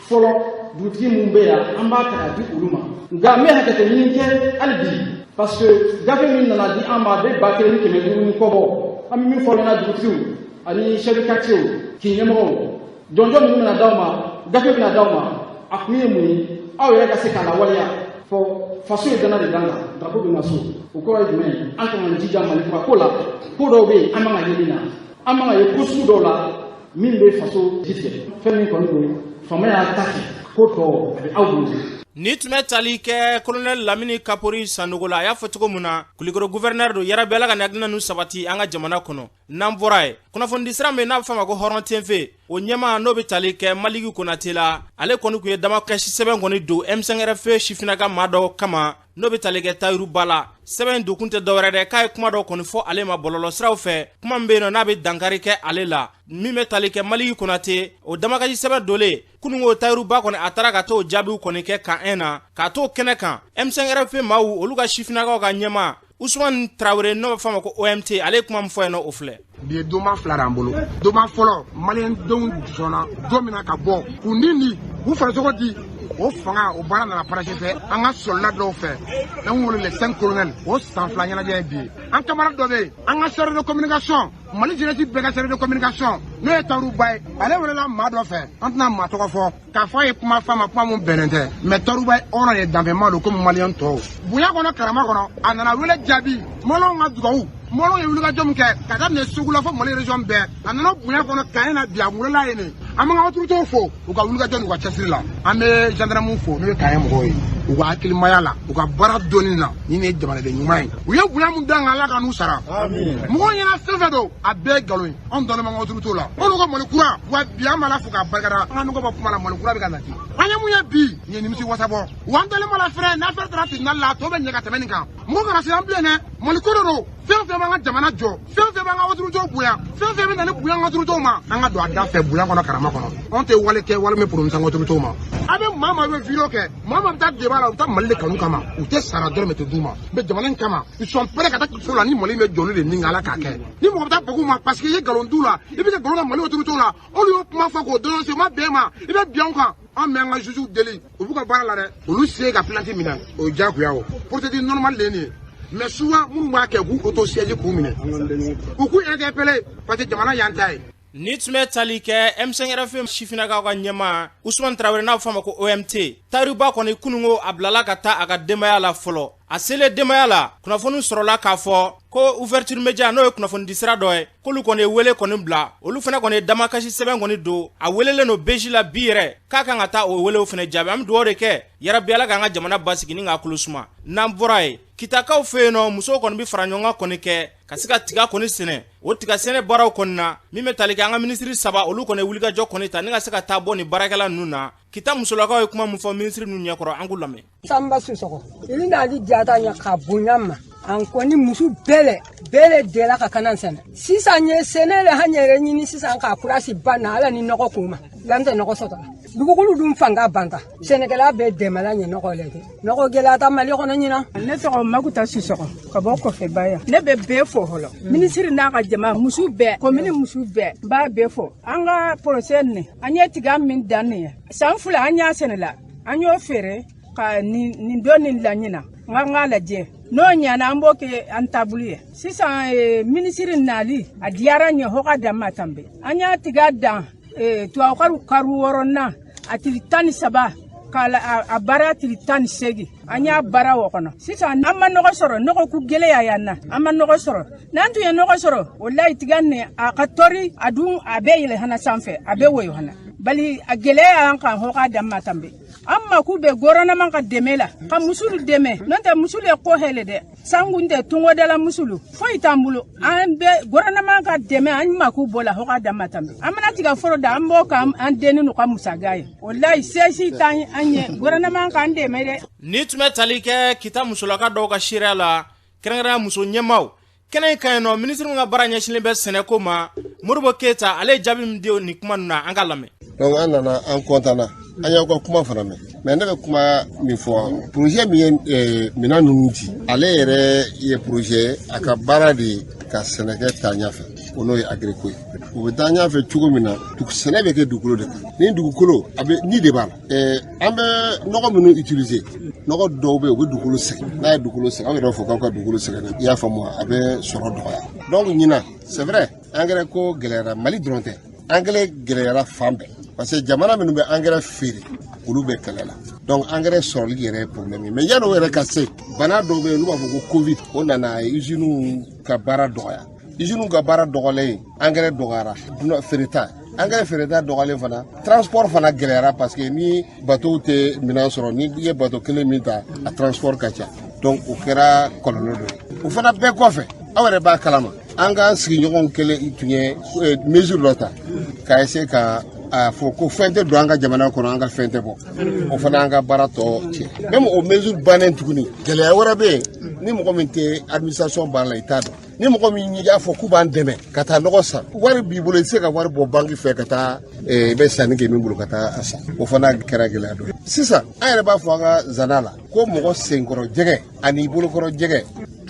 fɔlɔ dugutigi minnu bɛ yan an b'a ta ka di olu ma nka n bɛ hakɛto ɲini kɛ hali bi parce que gafe min nana di an ma a bɛ ba kelen ni kɛmɛ duuru ni kɔ bɔ an bɛ min fɔ an ɲɛna dugutigiw ani chef de quartier kin ɲɛmɔgɔw jɔnjɔn minnu bɛna d'aw ma gafe bɛna d'aw ma a kun ye mun ye aw yɛrɛ ka se k'a lawaleya fɔ faso ye dana de d'an kan drapo bɛ na so o kɔrɔ ye jumɛn ye an k'an jija mali kura ko la ko dɔw bɛ yen an man ka ye min na an man ka ye ko sugu dɔw la min bɛ faso jigi tigɛ fɛn min kɔni don faama y'a ta kɛ ko tɔ a bɛ aw bolo Nin tun bɛ tali kɛ kolonɛli lamini kapori sanɔgɔ la a y'a fɔ cogo min na kulikoro guvɛrinɛri don yarabi ala ka hakilina ninnu sabati an ka jamana kɔnɔ n'an bɔra ye kunnafonidisira min n'a bɛ fɔ a ma ko hɔrɔn TV o ɲɛmaa n'o bɛ tali kɛ maliki konate la ale kɔni tun ye damakasi sɛbɛn kɔni don M5-RFP sifinnaka maa dɔ kama n'o bɛ tali kɛ tayiru ba la sɛbɛn in donkun tɛ dɔwɛrɛ dɛ k'a ye kuma dɔ kɔni fɔ ale ma bɔlɔlɔ siraw fɛ kuma min bɛ yen nɔ n'a bɛ dankari kɛ ale la min bɛ tali kɛ maliki konate o damakasi sɛbɛn donnen kununko tayiru ba kɔni a taara ka t'o jaabiw kɔni kɛ kan 1 na k'a t'o kɛnɛ kan M5-RFP maaw olu ka sifinnakaw ka ɲɛmaa usumani tarawele n'o b'a f'a ma ko OMT ale ye kuma min fɔ yen nɔ o filɛ bi ye donba fila d'an bolo donba fɔlɔ maliyɛndenw sɔnna don min na ka bɔ k'u ni ni u farisogo di o fanga o baara nana parachevé an ka sɔlida dɔw fɛ n'an wele les 5 colonels o san fila ɲɛnajɛ ye bi ye an camarade dɔ bɛ yen an ka chargé de communication mali jenɛsi bɛɛ ka chargé de communication n'o ye tayiru ba ye ale welela maa dɔ fɛ an tɛna maa tɔgɔ fɔ k'a fɔ a ye kuma f'a ma kuma mun bɛnnen tɛ mɛ tayiru ba ye hɔrɔn ye danfɛnma don komi maliyɛn tɔw bonya kɔnɔ karama kɔnɔ a nana wele jaabi maliyɛnw ka dugawu maliyɛnw ye wulikajɔ min kɛ ka daminɛ segu la fo mali région bɛɛ a nana bonya kɔnɔ kan 1 na bi a welela yen nin an b'an ka otoritew fo u ka wulikajɔ n'u ka cɛsiri la an bɛ jandarmu fo n'o ye kan 1 mɔgɔw ye u ka hakilimaya la u ka baara dɔnni na ni nin ye jamanaden ɲuman ye u ye bonya min d'an kan ala ka n'u sara mɔgɔw ɲɛna fɛn fɛn don a bɛɛ ye nkalon ye anw dalen b'an ka otoritew la anw ka mali kura wa bi an b'ala fo k'a barikada an ka nɔgɔ bɔ kuma la mali kura bɛ ka nati an ye mun ye bi nin ye nimisi wasa bɔ wa an dalen b'a la fɛnɛ n'affaire taara tribunal la a tɔ bɛ ɲɛ ka tɛmɛ nin kan mɔgɔ kana siran bilen dɛ mali ko de don fɛn fɛn b'an ka jamana jɔ fɛn fɛn b'an ka otoritew bonya fɛn fɛn bɛ na ni bonya an ka otoritew ma an ka don a da fɛ bonya kɔnɔ karama kɔnɔ anw tɛ wale kɛ wale min poromisa an ka otoritew ma a bɛ maa maa bɛ video kɛ maa maa bɛ taa deba la u bɛ taa mali de kanu kama u tɛ sara dɔrɔmɛ tɛ d'u ma mɛ jamana in kama ils sont prêts ka taa so la ni mali bɛ jɔli de ni ala k'a kɛ ni mɔgɔ bɛ taa bag'u ma parce que i ye nkalon d'u la i bɛ ka nkalon da mali otoritew la olu y'o kuma fɔ k'o dénoncer o ma bɛn i ma i bɛ bin u kan an bɛ an ka juges deli u b'u ka baara la dɛ olu se ka plainte minɛ o ye diyagoya o procédure normale de ye nin ye mɛ souvent minnu b'a kɛ k'u auto-saisir k'u minɛ u k'u interpeller parce que jamana y'an ta ye Nin tun bɛ tali kɛ M5-RFP sifinnakaw ka ɲɛmaa usumani tarawele n'a bɛ fɔ a ma ko OMT tayiru ba kɔni kununko a bilala ka taa a ka denbaya la fɔlɔ a selen denbaya la kunnafoni sɔrɔla k'a fɔ ko ouverture média n'o ye kunnafonidisira dɔ ye k'olu kɔni ye wele kɔni bila olu fana kɔni ye damakasi sɛbɛn kɔni don a welelen don BIJ la bi yɛrɛ k'a kan ka taa o welew fana jaabi an bɛ dugawu de kɛ yarabi ala k'an ka jamana basigi ni k'a kulu suma n'an bɔra ye kitakaw fɛ yen nɔ musow kɔni bɛ faraɲɔgɔnkan kɔni kɛ ka se ka tiga kɔni sɛnɛ o tiga sɛnɛ baaraw kɔni na min bɛ tali kɛ an ka minisiri saba olu kɔni wulikajɔ kɔni ta ni ka se ka taa bɔ nin baarakɛla ninnu na kita musolakaw ye kuma min fɔ minisiri ninnu ɲɛkɔrɔ an k'u lamɛn sanba sisɔgɔ ili nali diyata ɲɛ ka bonya ma an kɔni musu bɛɛ lɛ bɛɛ lɛ dɛla ka kanan sɛnɛ sisan ye sɛnɛ lɛ han yɛrɛ ɲini sisan ka kurasi ban na ala ni nɔgɔ ko ma n'an tɛ nɔgɔ sɔtɔ dugukolo dun fanga banta sɛnɛkɛla bɛɛ dɛmɛlan ɲɛ nɔgɔ lɛ ti nɔgɔ gɛlɛyata mali kɔnɔ ɲina ne tɔgɔ makuta sisɔgɔ ka bɔ kofeba yan ne bɛ bɛɛ fo hɔlɔ minisiri n'a ka jama musu bɛɛ komini musu bɛɛ n b'a bɛɛ fo an ka porozɛ nin an ye tiga min dan nin ye san fila an y'a sɛnɛla an y'o feere ka nin dɔɔnin la ɲina n ka n k'a lajɛ n'o ɲana an b'o kɛ an taabolo ye sisan minisiri nali a diyara n ɲɛ hɔ k'a dan ma tanbe an y'a tiga dan eh, tubabukaru karu wɔɔrɔnan a tili tan ni saba k'a a baara tili tan ni seegin an y'a baara o kɔnɔ sisan an ma nɔgɔ sɔrɔ nɔgɔ ku gɛlɛya y'an na an ma nɔgɔ sɔrɔ n'an tun ye nɔgɔ sɔrɔ walayi tiga nin a ka tɔri a dun a bɛ yɛlɛ hana sanfɛ a bɛ woyo hana bali a gɛlɛya y'an kan hɔ k'a dan ma tanbe an mako bɛ gɔrɔnɛman ka dɛmɛ la ka musulu dɛmɛ n'o tɛ musulu ye ko hɛlɛ dɛ sanku n tɛ tungodala musulu foyi t'an bolo an bɛ gɔrɔnɛman ka dɛmɛ an mako b'o la hɔ k'a dan ma tanbe an mana tiga foro da an b'o kɛ an denninu ka musaga ye walayi se si t'an an ye gɔrɔnɛman k'an dɛmɛ dɛ nin tun bɛ tali kɛ kita musolaka dɔw ka seereya la kɛrɛnkɛrɛnya muso ɲɛmaaw kɛnɛ in kan yan nɔ minisiri min ka baara ɲɛsinlen bɛ sɛnɛko ma modibo keyita ale ye jaabi min di nin kuma ninnu na an k'a lamɛn donc an nana an kɔntanna an y'aw ka kuma fana mɛn mais ne bɛ kuma min fɔ porozɛ min ye eh, minɛn ninnu di ale yɛrɛ ye porozɛ a ka baara de ye ka sɛnɛkɛ taa ɲɛfɛ o n'o ye agiriko ye o bɛ taa ɲɛfɛ cogo min na sɛnɛ bɛ kɛ dugukolo de kan ni dugukolo a bɛ ni de b'a la eh, an bɛ nɔgɔ minnu utiliser nɔgɔ dɔw bɛ yen u bɛ dugukolo sɛgɛn n'a ye dugukolo sɛgɛn aw yɛrɛ fɔ k'aw ka dugukolo sɛgɛn i y'a faamu a bɛ sɔrɔ dɔgɔya donc ɲinan c'est vrai angɛrɛ ko gɛlɛyara mali dɔrɔn tɛ angɛrɛ gɛlɛyara fan bɛɛ parce que jamana minnu bɛ angɛrɛ feere olu bɛ kɛlɛ la donc angɛrɛ sɔrɔli yɛrɛ ye problème ye mais yanni o yɛrɛ ka se bana dɔ bɛ yen n'u b'a fɔ ko covid o nana usines ka baara dɔgɔya usines ka baara dɔgɔlen angɛrɛ dɔgɔyara feereta angɛrɛ feereta dɔgɔlen fana transport fana gɛlɛyara parce que ni bateau tɛ minɛn sɔrɔ ni i ye bateau kelen min ta a transport ka ca donc o kɛra kɔlɔlɔ dɔ ye o fana bɛɛ kɔfɛ aw yɛrɛ b'a kalama an ka sigiɲɔgɔnw kelen tun ye eh, mesure dɔ ta k'a essayer ka a fɔ ko fɛn tɛ don an ka jamana kɔnɔ an ka fɛn tɛ bɔ o fana an ka baara tɔ cɛn même o mesure bannen tuguni gɛlɛya wɛrɛ bɛ yen ni mɔgɔ min tɛ administration baara la i t'a dɔn ni mɔgɔ min y'a fɔ k'u b'an dɛmɛ ka taa nɔgɔ san wari b'i bolo i tɛ se ka wari bɔ banki fɛ ka taa eh, i bɛ sanni kɛ min bolo ka taa a san o fana kɛra gɛlɛya dɔ ye sisan an yɛrɛ b'a fɔ an ka zana la ko mɔgɔ senkɔrɔ jɛgɛ ani bolokɔrɔ jɛgɛ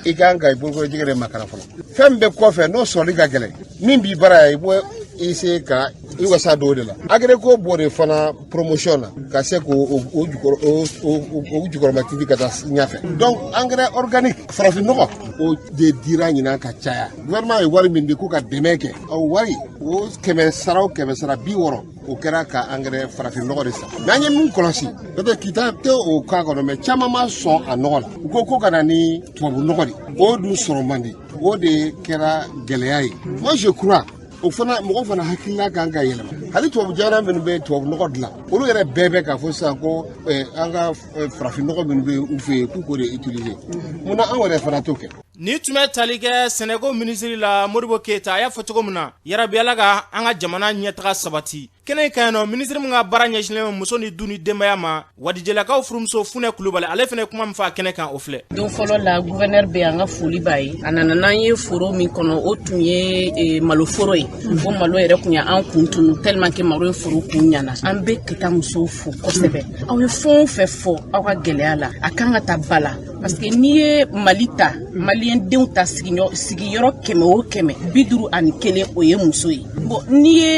i kan ka i bolokɔrɔ jɛgɛ de makaran fɔlɔ fɛn bɛ kɔfɛ n'o sɔrɔli ka gɛlɛn min b'i bara ya i bɔ i se ka i wasa don o de la agreko b'o de fana promotion na ka se k'o o jukɔrɔmatintin ka taa ɲɛfɛ donc engrais organique farafin nɔgɔ o de dira ɲinan ka caya gouvernement ye wari min di ko ka dɛmɛ kɛ o wari o kɛmɛ sara o kɛmɛ sara bi wɔɔrɔ o kɛra ka engrais farafin nɔgɔ de san mais an ye min kɔlɔsi peut-être kita tɛ o cas kɔnɔ mais caman ma sɔn a nɔgɔ la u ko ko ka na ni tubabu nɔgɔ de o dun sɔrɔ man di o de kɛra gɛlɛya ye moi je crois o fana mɔgɔ fana hakilina kan ka yɛlɛma hali tubabu jamana minnu bɛ tubabu nɔgɔ dilan olu yɛrɛ bɛɛ bɛ k'a fɔ sisan ko eh, an ka eh, farafin nɔgɔ minnu bɛ u fɛ yen k'u k'o de utiliser munna anw yɛrɛ fana t'o kɛ Nin tun bɛ tali kɛ sɛnɛko minisiriri la modibo keyita a y'a fɔ cogo min na yarabi ala ka an ka jamana ɲɛtaga sabati kɛnɛ in kan yen nɔ minisiri min ka baara ɲɛsinlen muso ni du ni denbaya ma wadijelakaw furumuso funɛ kulubali ale fana kuma min fɔ a kɛnɛ kan o filɛ don fɔlɔ la gouverneur bɛ an ka foli b'a ye a nana n'an ye foro min kɔnɔ o tun ye maloforo ye o malo yɛrɛ tun ye an kun tunun tellement que malo ye foro kun ɲana an bɛ kita musow fo kosɛbɛ aw ye fɛn o fɛn fɔ aw ka gɛlɛya la a kan ka ta ba la parce que n'i ye mali ta maliyɛndenw ta sigiyɔrɔ kɛmɛ o kɛmɛ bi duuru ani kelen o ye muso ye bon n'i ye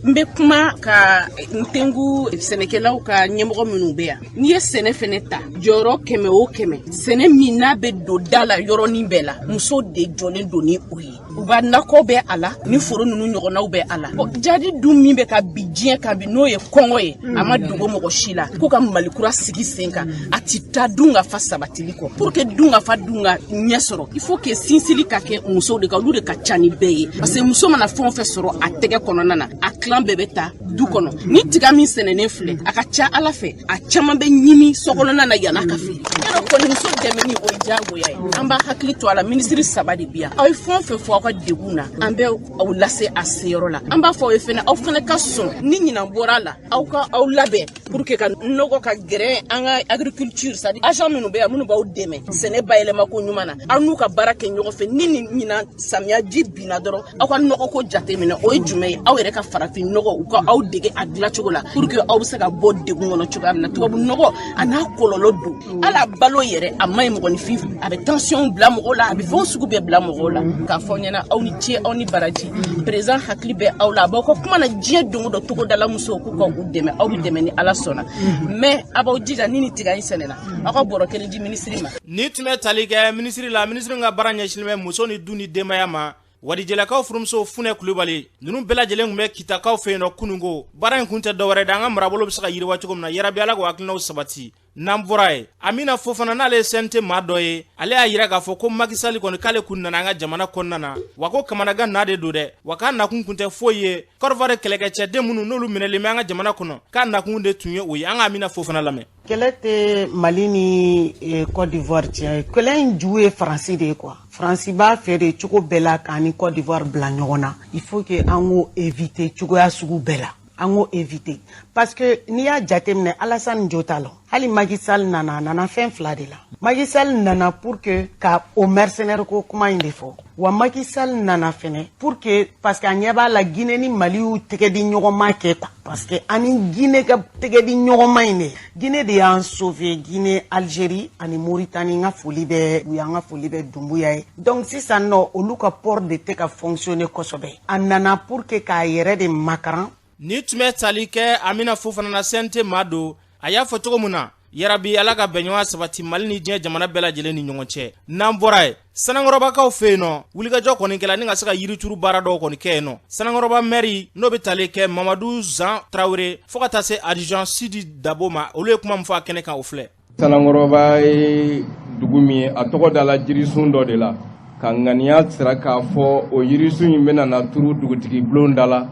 n bɛ kuma ka n tengu sɛnɛkɛlaw ka ɲɛmɔgɔ minnu bɛ yan n'i ye sɛnɛ fɛnɛ ta jɔyɔrɔ kɛmɛ o kɛmɛ sɛnɛ min n'a bɛ don da la yɔrɔnin bɛɛ la muso de jɔlen don ni o ye u ka nakɔ bɛ a la ni foro ninnu ɲɔgɔnnaw bɛ a la jahadi dun min bɛ ka bin diɲɛ kan bi n'o ye kɔngɔ ye a ma dogo mɔgɔ si la k'u ka mali kura sigi sen kan a ti taa dunkafa sabatili kɔ pour que dunkafa dun ka ɲɛ sɔrɔ il faut que sinsili ka kɛ musow de kan olu de ka ca ni bɛɛ ye parce que muso mana fɛn o fɛn sɔrɔ a tɛgɛ kɔnɔna na a tilan bɛɛ bɛ taa du kɔnɔ ni tiga min sɛnɛnen filɛ a ka ca ala fɛ a caman bɛ ɲimi sokɔnɔna na yann'a ka feere yɔrɔ kɔni muso dɛmɛni o ye diyagoya ye an b'a hakili to a la minisiri saba de bi yan aw ye fɛn o fɛn fɔ aw ka degun na an bɛ aw lase a seyɔrɔ la an b'a fɔ aw ye fɛnɛ aw fɛnɛ ka sɔn ni ɲinan bɔra a la aw ka aw labɛn pour que ka nɔgɔ ka gɛrɛ an ka agriculture c'est-à-dire agent minnu bɛ yan minnu b'aw dɛmɛ sɛnɛ bayɛlɛma ko ɲuman na aw n'u ka baara kɛ ɲɔgɔn fɛ ni nin ɲinan samiya ji binna dɔrɔn aw ka nɔgɔ ko jate minɛ o ye jumɛn ye aw yɛrɛ ka farafin nɔgɔ u ka aw dege a dilan cogo la pour que aw bɛ se ka bɔ degun kɔnɔ cogoya min na tubabu nɔgɔ a n'a kɔlɔlɔ don ala balo yɛrɛ a ma ɲi mɔgɔninfin a bɛ tension bila mɔgɔw la a bɛ fɛn sugu bɛɛ bila mɔgɔw la k'a fɔ ɲɛna aw ni ce aw ni baraji président hakili bɛ aw la a b'aw ka kuma na diɲɛ don o don togodala musow k'u ka u dɛmɛ aw bɛ dɛmɛ ni ala sɔnna mais a b'aw jija ni nin tiga in sɛnɛna aw ka bɔrɔ kelen di minisiri ma nin tun bɛ tali kɛ minisiri la minisiri ka baara ɲɛsinnen bɛ muso ni du ni denbaya ma Wadijɛlakaw furumuso funɛ kulubali ninnu bɛɛ lajɛlen tun bɛ kitakaw fɛ yen nɔ kununko baara in kun tɛ dɔwɛrɛ dɛ an ka marabolo bɛ se ka yiriwa cogo min na yarabi ala k'o hakilinaw sabati n'an bɔra ye Amina Fofana n'ale ye CNT maa dɔ ye ale y'a jira k'a fɔ ko Macky Sall kɔni k'ale kun nana an ka jamana kɔnɔna na wa ko kamanagan naa de don dɛ wa k'a nakun tun tɛ foyi ye Côte d'Ivoire kɛlɛkɛcɛden minnu n'olu minɛlen bɛ an ka jamana kɔnɔ k'a nakun de tun ye o ye an ka Amina Fofana lamɛn kɛlɛ tɛ mali ni eh, Côte d'Ivoire cɛ kɛlɛ in ju ye faransi de ye quoi faransi b'a fɛ de cogo bɛɛ la k'an ni Côte d'Ivoire bila ɲɔgɔn na il faut que an k'o éviter cogoya sugu bɛɛ la an k'o éviter parce que n'i y'a jateminɛ alasani jo t'a la hali Macky Sall nana a nana fɛn fila de la Macky Sall nana pour que ka o mercenaire ko kuma in de fɔ wa Macky Sall nana fɛnɛ pour que parce que a ɲɛ b'a la Guinée ni Mali y'u tɛgɛ di ɲɔgɔnma kɛ quoi parce que an ni Guinée ka tɛgɛ di ɲɔgɔnma in de Guinée de y'an sauver Guinée Algérie ani Mauritanie n ka foli bɛ u y'an ka foli bɛ Dumbuya ye donc sisan nɔ olu ka port de tɛ ka fonctionner kosɛbɛ a nana pour que k'a yɛrɛ de makaran ni tun bɛ tali kɛ Amina Fofana na CNT maa don a y'a fɔ cogo min na yarabi ala ka bɛnɲɔgɔnya sabati mali ni diɲɛ jamana bɛɛ lajɛlen ni ɲɔgɔn cɛ n'an bɔra ye Sanankɔrɔbakaw fɛ yen nɔ wulikajɔ kɔni kɛla ni ka se ka yirituru baara dɔw kɔni kɛ yen nɔ Sanankɔrɔba maire n'o bɛ tali kɛ mamadu zan tarawele fɔɔ ka taa se adjudant sidi dabo ma olu ye kuma min fɔ a kɛnɛ kan o filɛ Sanankɔrɔba ye dugu min ye a tɔgɔ dala la jirisun dɔ de la ka ŋaniya sira k'a fɔ o yirisun in bɛna na turu dugutigi bulon da la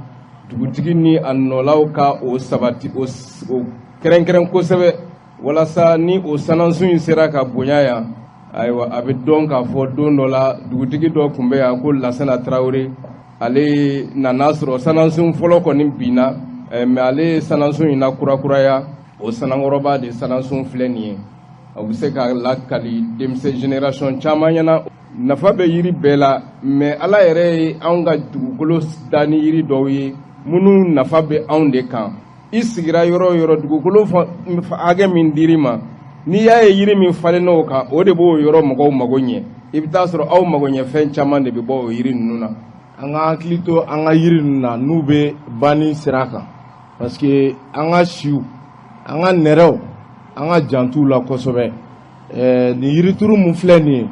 dugutigi ni a nɔlaw ka o sabati o kɛrɛnkɛrɛn kosɛbɛ walasa ni o sanansun in sera ka bonya yan ayiwa a bɛ dɔn k'a fɔ don dɔ la dugutigi dɔ tun bɛ yan ko lasana tarawele ale nana sɔrɔ sanansun fɔlɔ kɔni binna mais ale ye sanansun in na kurakuraya o sanankɔrɔba de sanansun filɛ nin ye o bɛ se ka lakali denmisɛn génération caman ɲɛna nafa bɛ yiri bɛɛ la mais ala yɛrɛ ye anw ka dugukolo da ni yiri dɔw ye minnu nafa bɛ anw de kan i sigira yɔrɔ o yɔrɔ dugukolo hakɛ min dir'i ma n'i y'a ye yiri min falen n'o kan o de b'o yɔrɔ mɔgɔw mago ɲɛ i bɛ t'a sɔrɔ aw magoɲɛfɛn caman de bɛ bɔ o yiri ninnu na an ka hakili to an ka yiri ninnu na n'u bɛ banni sira kan parce que an ka siw an ka nɛrɛw an ka jant'u la kosɛbɛ ɛɛ nin yirituru mun filɛ nin ye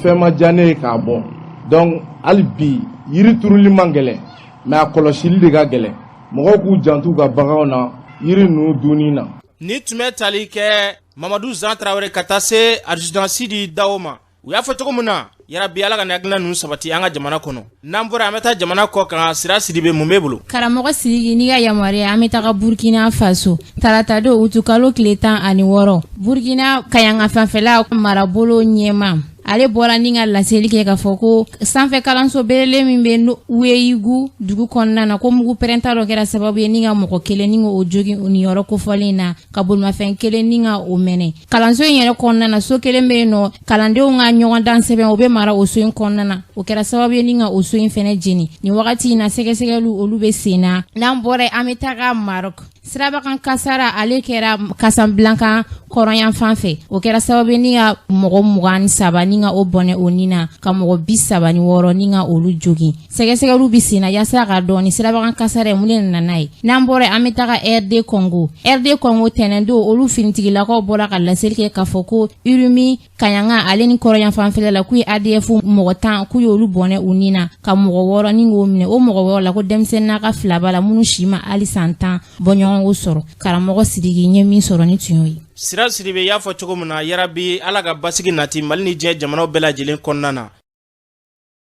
fɛn ma diya ne ye k'a bɔ donc hali bi yiri turuli man gɛlɛn mais a kɔlɔsili de ka gɛlɛn mɔgɔw k'u jant'u ka baganw na yiri ninnu dunni na. ni tun bɛ tali kɛ mamadu zan tarawele ka taa se adjudant sidi dawo ma u y'a fɔ cogo min na yarabi ala ka hakilina ninnu sabati an ka jamana kɔnɔ n'an bɔra an bɛ taa jamana kɔ kan sira sidibe mun b'i bolo karamɔgɔ sidiki n'i ka yamaruya an bɛ taga burkina faso taratadon utukalo tile tan ani wɔɔrɔ burkina kaɲagafanfɛla marabolo ɲɛmaa ale bɔra ni ka laseli kɛ k'a fɔ ko sanfɛ kalanso belebele min bɛ weyigu dugu kɔnɔna na ko mugu pɛrɛnta dɔ kɛra sababu ye ni ka mɔgɔ kelen ni k'o jogin u ni yɔrɔ kofɔlen na ka bolimafɛn kelen ni ka o mɛnɛ kalanso in yɛrɛ kɔnɔna na so kelen bɛ yen nɔ kalandenw ka ɲɔgɔndan sɛbɛn o bɛ mara o so in kɔnɔna na o kɛra sababu ye ni ka o so in fɛnɛ jeni nin wagati in na sɛgɛsɛgɛliw olu bɛ sen na n'an bɔra an bɛ taga marɔk sirabakan kasara ale kɛra kasabilanka kɔrɔnyanfan fɛ o kɛra sababu ye ni ka mɔgɔ mugan ni saba ni ka o bɔnɛ o ni na ka mɔgɔ bi saba ni wɔɔrɔ ni ka olu jogin sɛgɛsɛgɛliw bi senna yasa k'a dɔn nin sirabakan kasara in mun de nana n'a ye n'an bɔra an bɛ taga rd kɔngo rd kɔngo tɛnɛndon olu finitigilakaw bɔra ka laseli kɛ k'a fɔ ko urumi kaɲaga ale ni kɔrɔyanfanfɛla la k'u ye adf mɔgɔ tan k'u y'olu bɔnɛ u ni na ka mɔgɔ wɔɔrɔ ni k'o minɛ o mɔgɔ wɔɔrɔ la ko denmisɛnninnaka fila b'a la minnu si ma hali san tan bɔɲɔgɔnko sɔrɔ karamɔgɔ sidiki n ye min sɔrɔ nin tun y'o ye sira sidibe y'a fɔ cogo min na yarabi ala ka basigi nati mali ni diɲɛ jamanaw bɛɛ lajɛlen kɔnɔna na